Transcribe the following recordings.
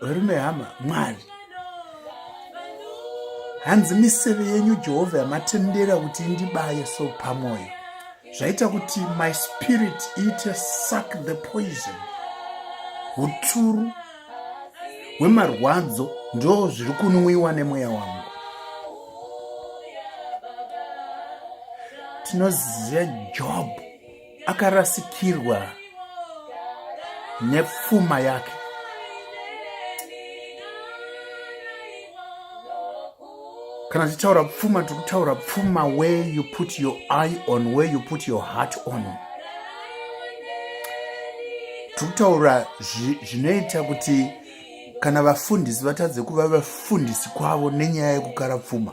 varume hama mwari hanzi miseve yenyu jehovha yamatendera kuti indibaye so pamwoyo zvaita kuti my spirit iite suck the poison uturu hwemarwadzo ndo zviri kunwiwa nemweya wangu tinoziva job akarasikirwa nepfuma yake kana tichitaura pfuma tiri kutaura pfuma where you put your eye on where you put your heart on tiri kutaura zvinoita kuti kana vafundisi vatadze kuva vafundisi kwavo nenyaya yekukara pfuma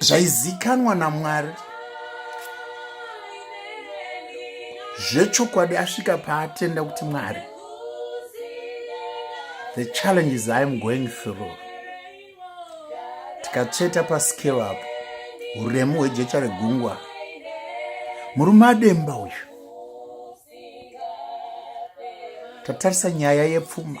zvaizikanwa namwari zvechokwadi asvika paatenda kuti mwari the challenges iam going through tikatsveta paskero apo uremu hwejecha regungwa murume ademba uyu tatarisa nyaya yepfuma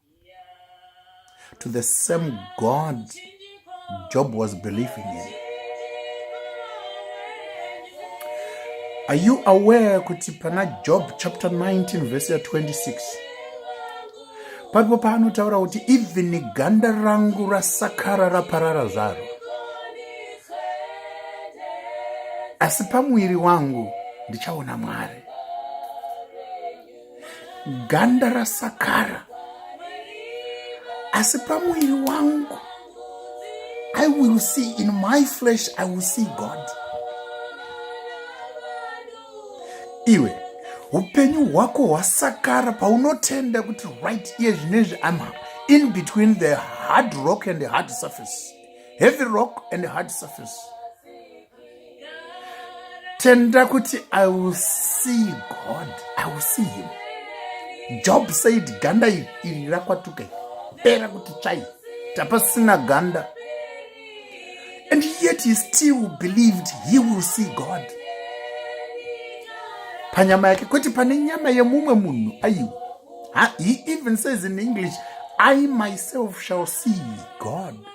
to the same God Job was believing in. Are you aware kuti pana Job chapter 19 verse 26 paripo paanotaura kuti even ganda rangu rasakara raparara zvaro asi pamuviri wangu ndichaona Mwari. ganda rasakara asi pamuviri wangu i will see in my flesh i will see god iwe upenyu hwako hwasakara paunotenda kuti right iye zvinezvi am in between the hard rock and the hard surface heavy rock and hard surface tenda kuti i will see god i will see him job said ganda iri iri rakwatuka pera kuti tsvai tapasina ganda and yet he still believed he will see god panyama yake kwete pane nyama yemumwe munhu aiwa he even says in english i myself shall see god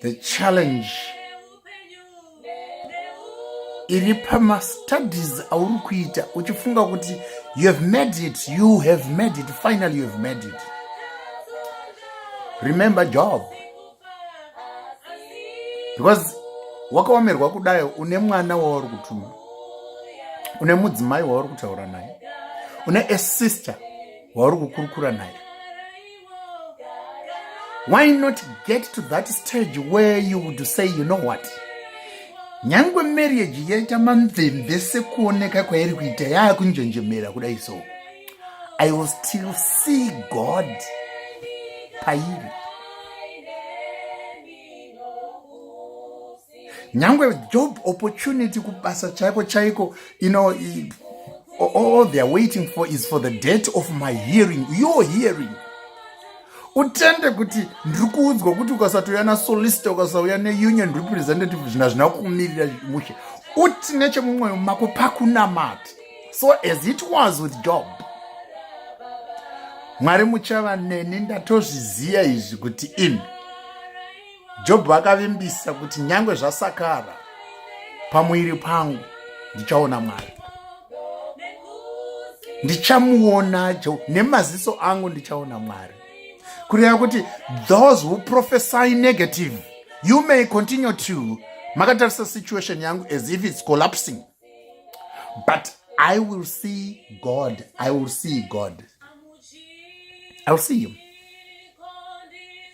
the challenge iri pamastudies auri kuita uchifunga kuti you have made it you have made it finally you have made it remember job because wakaomerwa kudai une mwana wauri kutuma une mudzimai wauri kutaura naye une asister wauri kukurukura naye why not get to that stage where you would say you know what nyange marriage yaita mamvemve sekuoneka kwairi kuita yaakunjenjemera kudai so i will still see god pairi nyangwe job opportunity kubasa chaiko chaiko you know all they are waiting for is for the date of my hearing your hearing utende kuti ndiri kuudzwa kuti ukasatouya nasolista ukasauya neunion representative zvinhu hazvina kumirira mushe uti nechemumwoyo mako pakunamati so as it was with job mwari muchava neni ndatozviziva izvi kuti imi jobho akavimbisa kuti nyange zvasakara pamuviri pangu ndichaona mwari ndichamuona nemaziso angu ndichaona mwari kureva kuti those who prophesy negative you may continue to makatarisa situation yangu as if its collapsing but i will see god i will see god i will see him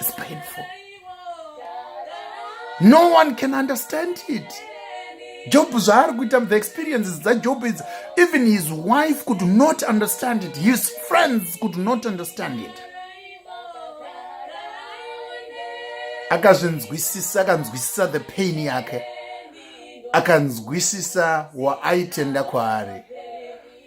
It's painful. No one can understand it. Job zvaari kuita the experiences dzaJob idzi even his wife could not understand it his friends could not understand it akazvinzwisisa akanzwisisa the pain yake akanzwisisa waaitenda kwaari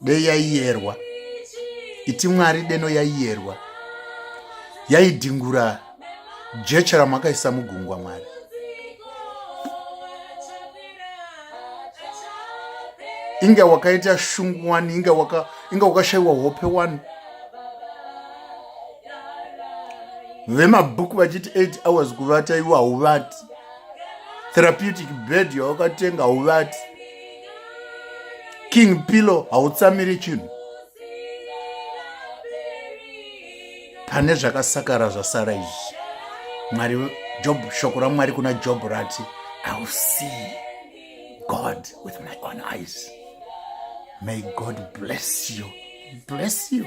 dei yaiyerwa iti mwari deno yaiyerwa yaidhingura jecha ramakaisa mugungwa mwari inga wakaita shungu wani inga waka inga wakashaiwa hope wani vemabhuku vachiti 8 hours kuvata iwo hauvati therapeutic bed yawakatenga hauvati king pillow hautsamiri chinhu pane zvakasakara zvasara izvi mwari job shoko ramwari kuna job rati iwill see god with my own eyes may god bless you bless you